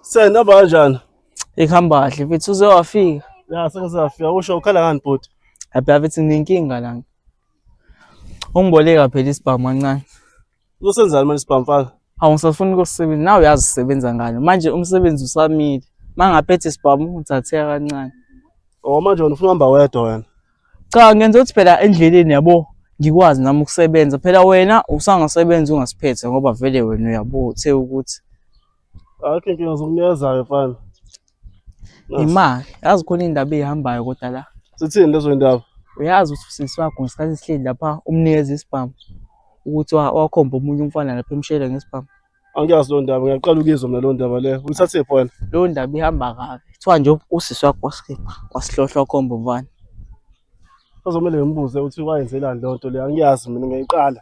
Sen ne yapacaksın? Ikhamba kahle mfethu uze wafika. Ya sengike safika usho ukhala ngani bhuti? Abhe abethi nginenkinga lana. Ungiboleka phela isibhamu kancane. Uzosenzani manje sibhamfaka? Hawu ngisafuna ukusebenza. Nawe uyazi usebenza ngani. Manje umsebenzi usamile. Mangaphethe sibhamu uthatheka kancane. Oh manje wena ufuna uhamba wedwa wena. Cha ngenza ukuthi phela endleleni yabo ngikwazi nami ukusebenza. Phela wena usangasebenza ungasiphethe ngoba vele wena uyabo uthe ukuthi Akhe inkinga zokunikeza-ke mfana. Nasi. Imali. Yazi khona indaba eyihambayo kodwa la. Sithini lezo yindaba? Uyazi ukuthi usisi wakho ngesikhathi sihleli lapha umnikeza isibhamu ukuthi wa- wakhomba omunye umfana lapha emshele ngesibhamu. Angiyazi leyo ndaba, ngiyaqala ukuyizwa mina leyo ndaba leyo. Uyithathephi wena? Leyo ndaba ihamba kabi. Kuthiwa nje usisi wakho wasikhipha wasihlohla wakhomba umfana. Sazomele ngimbuze ukuthi wayenzelani leyo nto leyo. Angiyazi mina, ngiyayiqala.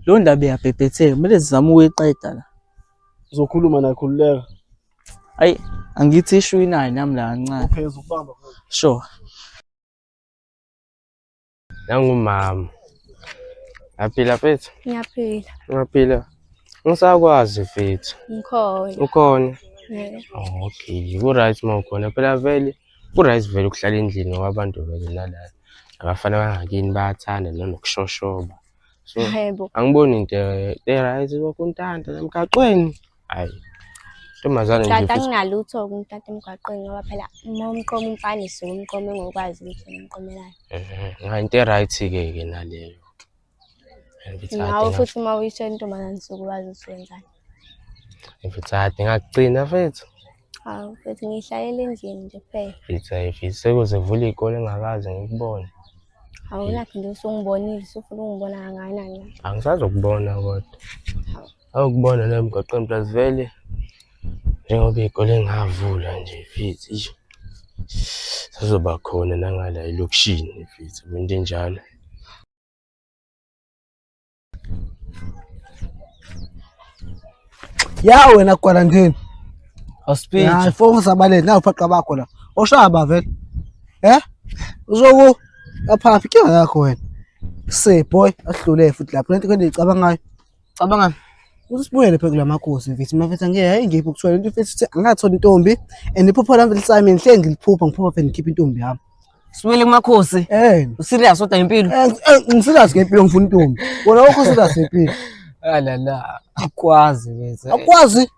Leyo ndaba iyabhebhetheka. Kumele sizame ukuyiqeda la. Uzokhuluma naye khululeka. Ayi angithi ishu inayo nami la kancane. Uphezulu ukubamba. Sure. Nangumama. Yaphila mfethu? Ngiyaphila. Ngiyaphila. Ngisakwazi mfethu. Ngikhona. Ukhona? Yeah. Okay, ku-right uma ukhona. Phela vele ku-right vele ukuhlala endlini ngoba abantu vele nalana abafana bangakini bayathanda nanokushoshoba. so angiboni into e-right lokhu untanta emgaqweni hayi ntombazane nje tata kunalutho kumtata emgaqweni ngoba phela uma umqoma umfana isuke umqome ngokwazi ukuthi yena umqomelayo ngayo into e-right-ke ke naleyo nawe futhi uma uyisho intombazane suke wazi ukuthi wenzani mfithati ngakugcina fethu hawu fethu ngihlalele endlini nje kuphela fitha fitha sekuze vula iy'kole engakaze ngikubone Awulakhe nje usungibonile usufuna ungibona kangakanani la. Angisazokubona kodwa. Hawu. Awukubona la emgaqweni plus vele njengoba iy'kole ngavula nje fithi eish, sazoba khona nangala elokishini fithi into enjalo. ya wena kwala ndini awusipitshi focus abaleni nawu phaqa bakho la oshaba vele eh uzoku aphaphi ke yakho wena se boy ahlule futhi lapho lento kwende icabangayo cabangani usibuyele phe kulamakhosi mfethu mafethu ngeke hayi ngiphi ukuthola into mfethu angathola intombi and iphupho lami lithi Simon hle ngiliphupha ngiphupha phe ngikhipha intombi yami Sibuyele kumakhosi. Eh. Userious kodwa ngempilo? Eh, eh, ngiserious ngempilo ngifuna intombi. Wena awukho serious ngempilo. Ah la la. Akwazi bese. Akwazi.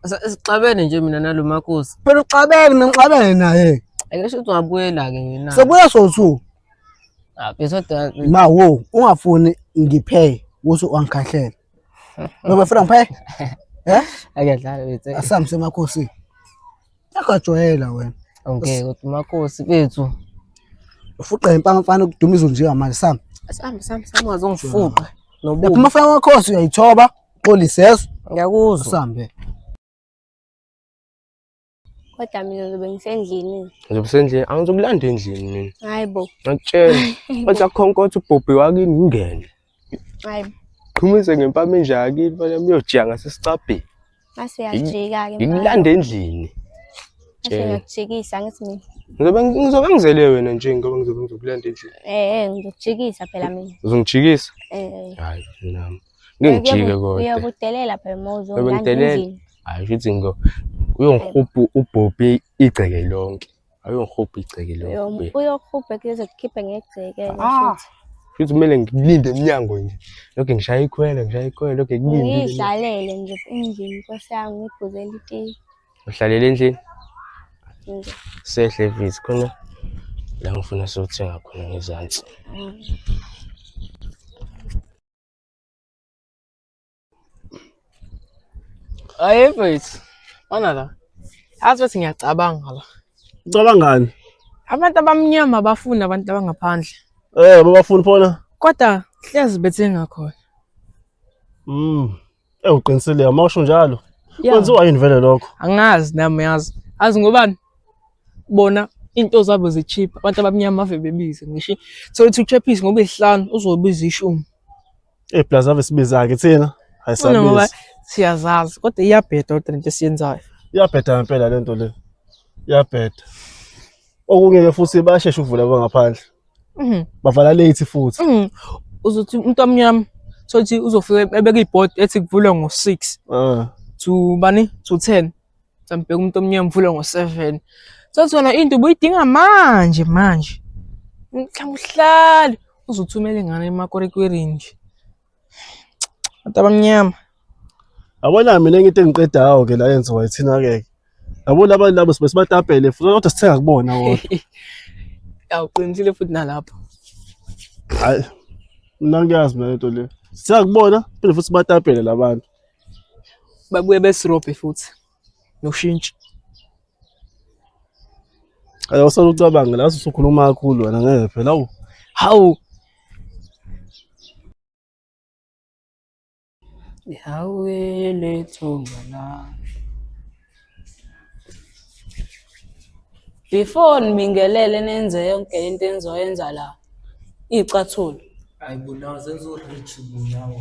Sixabene nje mina nalo makhosi. Phela uxabene mina ngixabene naye. Ake sho ukuthi wabuyela ke yena. Sebuya sothu. Ah bese kodwa ma wo ungafuni ngiphe kuthi wangikhahlela. Ubefuna ngiphe? Eh? Akuyadlala bethu. Asamse emakhosi. Akajwayela wena. Awungeke kodwa umakhosi bethu. Ufuqa impama mfana ukuduma izulu nje manje sam. Sam sam sam wazongifuqa. Nobubi. Lapho mfana wakhosi uyayithoba, xolisa. Ngiyakuzwa. Sambe. Kodwa mina ngizobe ngisendlini. Ngizobe sendlini, angizokulanda endlini mina. Hayi bo. Ngakutshela. Wathi akhonkotha ubhobhi wakini ngingene. Hayi bo. Qhumise ngempama enje yakini, manje muyojika ngasesicabheni. Mase yajika-ke. Ngikulanda endlini. Mase ngiyakujikisa ngithi mina. Ngizobe ngizobe ngizele wena nje ngoba ngizobe ngizokulanda endlini. Eh eh ngizokujikisa phela mina. Uzongijikisa? Eh. Hayi nami. ngeke ngijike kodwa uyakudelela phela uma uzongangizini hayi ukuthi ngo uyongihubha ubhobhi igceke lonke ayongihubha igceke lonke uyohubha kuze kukhiphe ngegceke ah. futhi kumele ngilinde emnyango nje lokho ngishaya ikhwele ngishaya ikhwele lokho kulinde ngidlalele nje endlini nkosi yami ngibhuzele itiyi uhlalele endlini sehle vizi khona la ngifuna sothenga khona ngezansi mm. Hayi mfethu. Ona la. Azi ukuthi ngiyacabanga la. Ucabangani? Abantu abamnyama abafuni abantu abangaphandle. Eh babafuni phona? Kodwa hlezi bethenga khona. Mm. Ewu uqinisile uma usho njalo. Yeah. Kwenziwa yini vele lokho? angazi nami uyazi azi ngobani bona into zabo zicheap abantu abamnyama ave bebize ngisho thola ukuthi uchephisi ngoba isihlanu uzobiza ishumi Eh plus ave sibiza ke thina. Hayi Funa ngoba sabiza. siyazazi kodwa iyabheda kodwa lento esiyenzayo Iyabheda ngempela lento le. Iyabheda. Okunye ke futhi bayashesha ukuvula kwangaphandle. Mhm. bavala late futhi Mhm. uzothi umuntu omnyama sothi uzofika ebeka ibhodi ethi kuvulwe ngo-six Ah, to bani to ten sambheka umuntu omnyama uvule ngo-seven sothi wena into ubuyidinga manje manje mhlawumbe uhlale uzothumela ingane emakorekwerini nje Abantu abamnyama. Yabona mina into engiqedayo ke la yenziwa ithina ke. Yabo laba labo sibe sibatapele futhi kodwa sithenga kubona kodwa. Awuqinisile futhi nalapho. Hayi. Mina ngiyazi mina lento le. Sithenga kubona phinde futhi sibatapele labantu. Babuye besirobhe futhi. no shintshi. Ayo usolo ucabanga la usukhuluma kakhulu wena ngeke phela awu. Hawu. Hawu lethunga la. Before nibingelele nenze yonke lento enizoyenza la. Icathulo. Hayi bunawo senzo rich bunawo.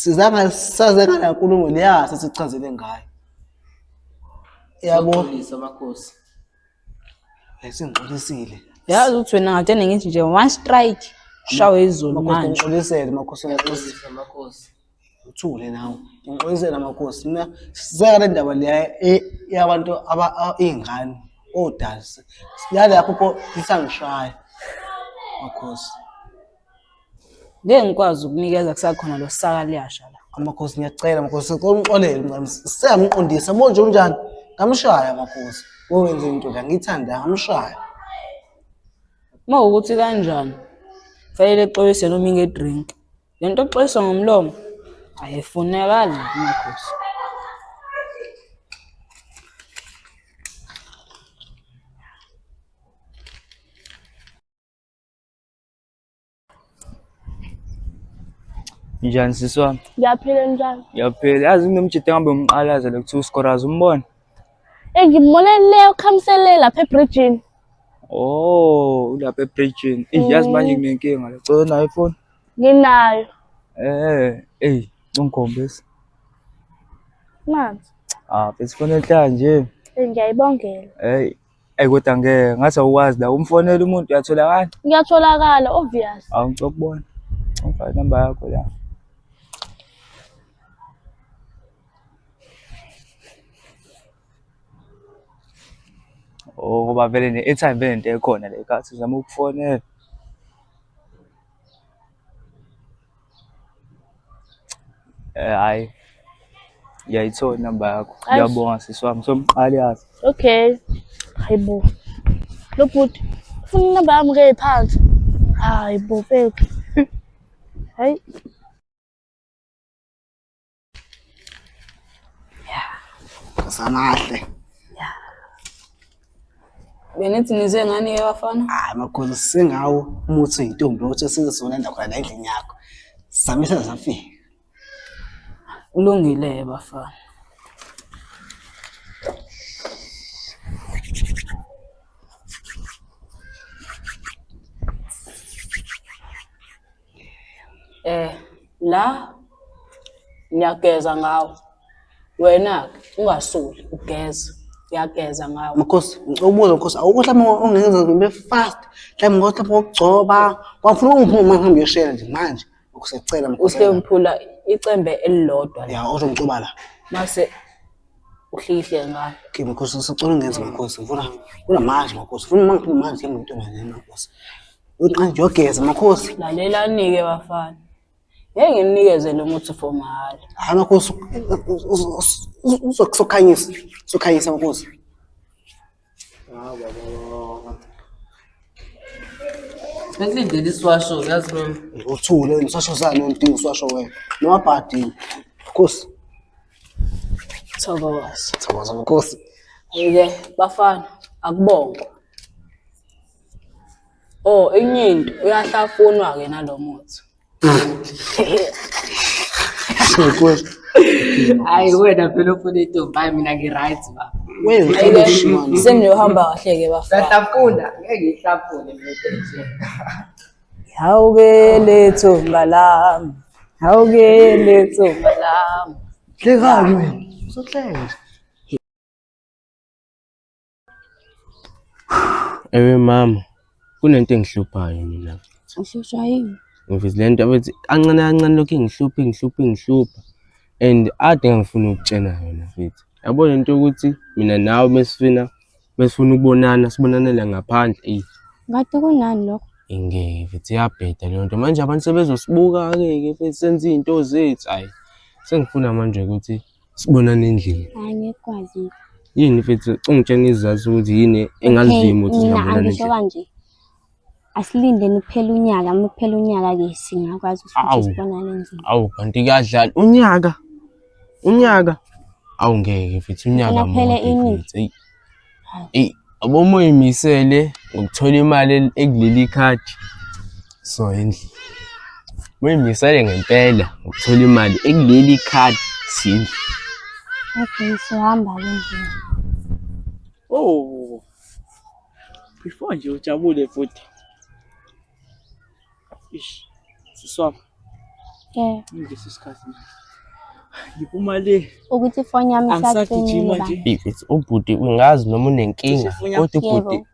sizanga saze ngala nkulumo leya sesichazele ngayo yabo Xolisa makhosi. esingixolisile yazi ukuthi wena ngathi eningithi nje one strike shawe izulu makhosi manje ngixolisele makhosi ngixolisile Xolisa makhosi. uthule nawe ngixolisela amakhosi mina siseka le ndaba leya e- yabantu aba- a- iy'ngane odazi yalapho pho lisangishaya makhosi ngeke ngikwazi ukunikeza kusakhona lo saka liyasha la amakhosi ngiyacela makhosi cela ungixolele mncane seyangiqondisa bonje unjani ngamshaya makhosi owenze into la ngiyithanda ngamshaya uma ukuthi kanjani fanele exolise noma inge-drink Le nto oxolisa ngomlomo ayifunekali nakumakhosi. Njani sisi wami? Ngiyaphila njalo. Ngiyaphila. Yazi nginomjita ngihambe umqalaza lo kuthiwa uScoraz umbona? Eh ngimbona le ukhamsele lapha ebridgini. Oh, ulapha ebridgini. Eyi yazi manje mm. nginenkinga la. Cela nayo ifoni. Nginayo. Eh, ey, ungikhombisa. Manzi. Ah, besifonela inhlaya nje. Eh, ngiyayibongela. Hey, Ey kodwa ngeke ngathi awukwazi la umfonela umuntu uyatholakala. Ngiyatholakala obvious. Awu ngicela ukubona. Ngifaka inamba yakho la. Oh ngoba vele ne-airtime vele into ekhona le kasi uzama ukufonela. Eh, hayi ngiyayithola inamba yakho Aish. ngiyabonga sisi wami somqali yazi okay hayi bo lo bhuti ufuna inamba yami ke phansi hayi bo feki hayi Samahle. Benithi nize ngani ke bafana? Hayi makhosi singawo umuthi oyintombi ukuthi sizosona endawo khona la endlini yakho. Samisa zafika. Kulungile ke bafana. Eh la ngiyageza ngawo. Wena ungasoli ugeza. Uyageza ngawo. Makhosi, ngicela ukubuza Makhosi, awukho mhlawumbe ongenza ngibe fast. Mhlawumbe ngothi lapho ngokugcoba, kwafuna ungiphuma manje ngihambe uyoshela nje manje. Ukusecela Makhosi. Uske ngiphula icembe elilodwa la. Ya, uzongixuba la. Mase uhlikihle ngayo. Okay, Makhosi, ngisacela ungenze Makhosi. Ngifuna, ngifuna manje Makhosi. Ngifuna uma ngiphuma manje ngihambe ngentombazane Makhosi. Uqanje yogeza makhosi. Lalela nike bafana. Ngeke nginikeze lo muthi for mahhala. Hayi makhosi uzokusokhanyisa. Sokhanyisa makhosi. Hawu baba. Bekulindele isiwasho yazi lo. Uthule wena usasho sani unti usasho wena. Noma bhadi. Khosi. Thokoza. Thokoza makhosi. Yike bafana akubongwa. Oh, enye into uyahlafunwa ke nalo muthi. Hayi wena phela ufuna itombi hayi mina ngi-right ba. Seniyohamba kahle ke bafana. Ngiyahlafuna, ngeke ngihlafune mina nje. Hawu ke lethu ngalami. Hawu ke lethu ngalami. Hlekani wena. Uzohleka nje. Ewe mama, kunento engihluphayo mina. Uhlushwa yini? Ngivizile into abethi kancane kancane lokhu ingihlupha ingihlupha ingihlupha and ade engangifuna ukutshena yona mfethu. Yabona into yokuthi mina nawe mesifuna mesifuna ukubonana sibonanele ngaphandle eyi Kade kunani lokho? ingeke mfethu iyabheda leyo nto. Manje abantu sebezosibuka-ke ke mfethu senza izinto zethu ayi sengifuna manje ukuthi Sibonane endlini. Hayi ngekwazi. Yini mfethu ungitshena izazi ukuthi yini engazivimi ukuthi singabonana endlini. Ngisho kanje. Asilindeni kuphela unyaka, uma kuphela unyaka ke singakwazi ukuthi sibonane endlini. Awu kanti kuyadlala unyaka. Unyaka. Awu ngeke mfethu unyaka mfethu. Eyi, yabo uma uyimisele ngokuthola imali el- ekuleli khadi so endlini uma uyimisele ngempela ngokuthola imali ekuleli khadi sindlu Okay, sohamba ke nje. Oh. Before nje ujabule futhi. Ish. Siswami. Eh. Ngidlisa isikhathi manje. Ngiphuma le. Ukuthi ifoni yami isacimile. It's ubhuti ungazi noma unenkinga kodwa ubhuti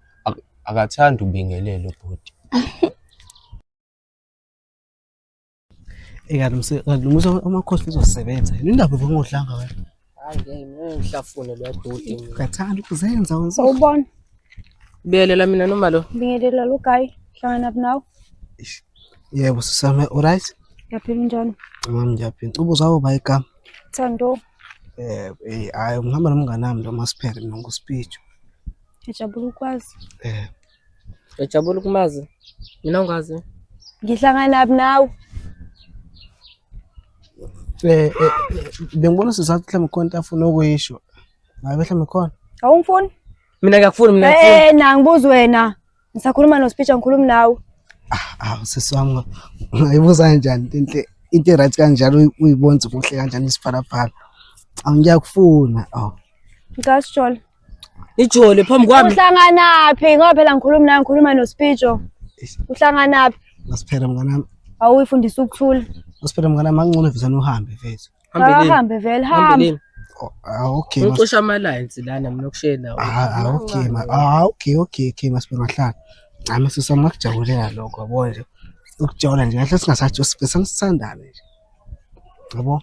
akathandi ubingelele ubhuti. Ekanti eh, umsebenzi amakhosi uzosebenza. Indaba bongodlanga wena. ngihlafune lodoti ngathanda ukuzenza sawubona biyelela mina noma lo bingelela lo guy hlangana nawe yebo sisame alright yaphila njani ngami ngiyaphila ubuza uba igama thando eh eh ayi ngihamba nomngane wami lo masiphele nongo speech ejabula ukwazi eh Ngiyajabula ukumazi. Mina ngikwazi. Ngihlanganaphi nawe? Eh, eh, bengibona sizathu mhlawumbe khona into afuna ukuyisho. Ngabe mhlawumbe khona. Awungifuni? Mina ngiyakufuna mina. Eh, na ngibuza wena. Ngisakhuluma no speech angikhulumi nawe. Ah, ah sisi wami ngayibuza kanjani into into right kanjalo uyibonza kuhle kanjani isiphalaphala. Angiyakufuna. Aw. Ngasho. Ijole phambi kwami. Uhlanganaphi? Ngoba phela ngikhuluma naye ngikhuluma noSpijo. Uhlanganaphi? Ngasiphela mnganami. Awuyifundisa ukuthula. Ngasiphela mnganami angcono visa nohambe mfethu. Hambe vele hambe. Oh, ah, okay. Ucosha ama lines lana mina okushela. Ah, ah okay ma. Ah okay okay okay ngasiphela ngahlala. Hayi masisa ngakujabulela lokho yabo nje. Ukujabula nje ngahle singasathi sibesangithandane nje. Yabo.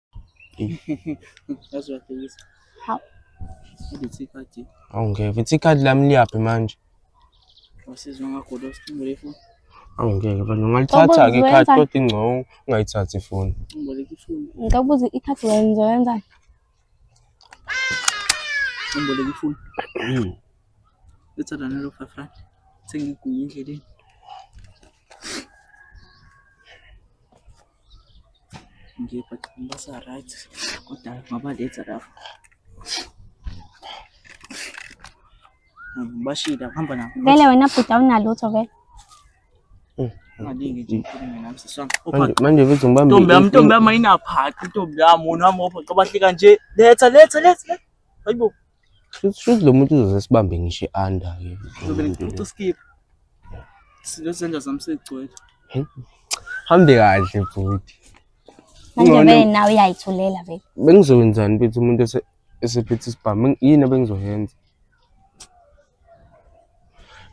Awu ngeke futhi ikhadi lami liyaphi manje? Awu ngeke bani ungalithatha-ke ikhadi kodwa ingcono ungayithathi ifoni. Ngicela ukubuza ikhadi wena ngizoyenzani? Ngimboleka ifoni. Letha lana lo five rand. Sengiguye endleleni. ngiyobaqinisa right kodwa ngaba late lapho ngibashida ngihamba nabo vele wena bhuti awunalutho vele Maningi nje ikhulumi nami sisi wami. Manje Opha- manje mfethu ngibambe. Ntombi yami, ntombi yami ayinaphathi, ntombi yami, wona wami opha, xa bahlika nje, letha, letha, letha, letha. Hayibo. Shuthi shuthi lo muntu uzoze sibambe ngisho i-under ke. Ngizobe ngicoca skip. Sizozenza zami segcwele. Hambe kahle bhuti. Manje Ngcono- vele nawe uyayithulela vele. Bengizokwenzani mfethu umuntu ese- esephethe isibhamu Beng- yini ebengizoyenza?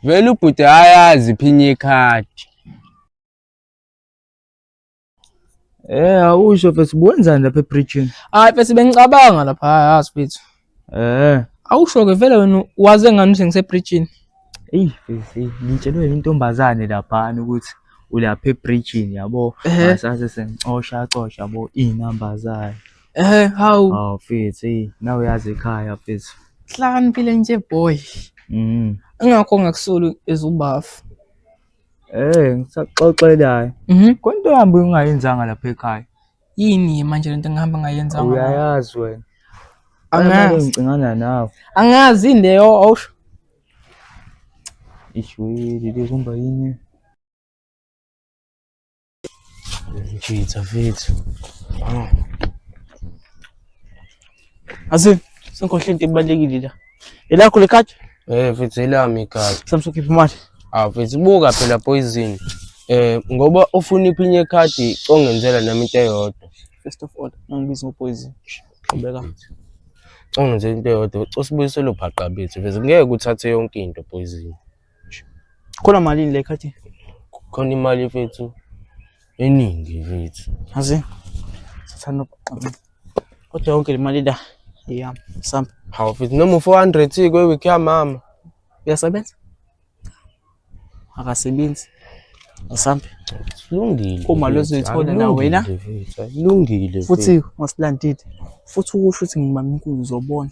Vele ubhuti ayazi iphinye ikhadi. Eh awusho mfethu ubuwenzani lapha ebridging? Hayi mfethu bengicabanga lapha yazi mfethu. Eh. Awusho ke vele wena waze ngani ukuthi ngisebridging? Eyi mfethu ngitshelwe intombazane laphana ukuthi ulapha ebridging yabo. Ngasase sengicosha cosha yabo izinamba zayo. Eh hawu. Hawu mfethu nawe uyazi ekhaya mfethu. Hlakaniphile nje boy. Mhm. Ingakho ngakusoli ezubafu. Eh, ngisaxoxelayo. Mhm. Kwento yami ungayenzanga lapha ekhaya. Yini manje lento ngihamba ngayenza ngayo? Uyayazi wena. Angazi. Ngicingana nawe. Angazi yini leyo awusho. Ishwili likumba yini? Mfitha mfitha. Hawu. Azil, sengikhohle into ebalekile la. Elakho lekati? Eh mfitha elami ikati. Samso khipha imali. Ah mfitha buka phela poison. Eh ngoba ufuna iphinye ikhadi congenzela nami into eyodwa. First of all, ngibiza ngopoison. Qhubeka. Congenzela into eyodwa. Cosibuyiselo bhaqa bethu. Mfethu ngeke uthathe yonke into poison. Khona malini le khathi? Khona imali mfethu eningi mfethu. Azi. Sathanda ukuqamba. Kodwa yonke le mali la iyami. Sam. Hawu mfethu noma 400 kwe week ya mama. Uyasebenza? Akasebenzi. Asambe. Silungile. Uma lozithola na wena. Silungile. Futhi ngosilandile. Futhi ukusho ukuthi ngimama inkulu uzobona.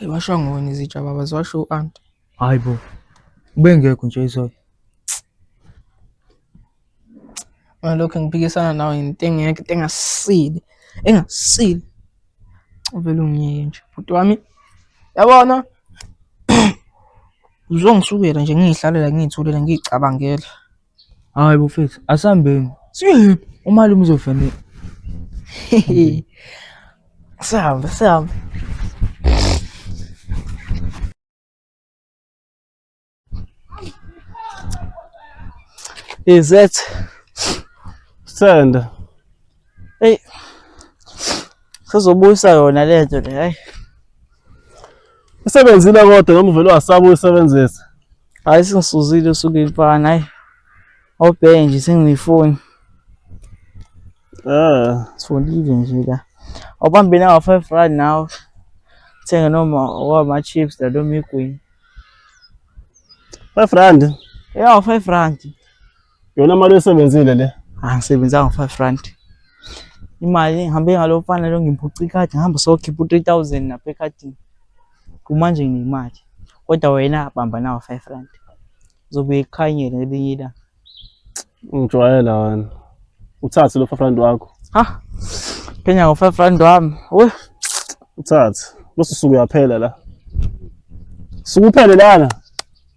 Ay washo ngoni izitsha baba ziwasho u-aunt. Hayi bo. Ubengekho nje izolo. Ngalokho ngiphikisana nawe into engeke into engasile. Engasile. Uvele ungiyeke nje. Bhuti wami yabona uzongisukela nje ngiyihlalela ngiyithulela ngiyicabangela. Hayi bufethu, asambeni. Siyephi? Umalume uzofanele. Sihambe, sihambe. Is that Sithanda. Hey. Sizobuyisa yona lento le, hayi. Isebenzile kodwa noma uvele wasaba uyisebenzisa. Hayi singisuzile usuke imfana hayi. Obheke nje sengiyifoni. Ah, sifundile nje la. Awubambe nawo 5 rand nawo. Thenga noma wama chips la noma igwini. 5 rand. Yeah, 5 rand. Yona mali esebenzile le. Angisebenzanga ah, 5 rand. Imali ngihambe ngalo mfana lo ngimphuca ikhadi ngihamba sokhipha u3000 napha ekhadini. Kumanje nginemali. Kodwa wena bamba nawo 5 rand. Uzobuye ikhanyele elinye ilanga. Ngijwayela wena. Uthathe lo 5 rand wakho. Ha. Phenya ngo 5 rand wami. Uy. Uthathe. Bese usuku uyaphela la. Sukuphele lana.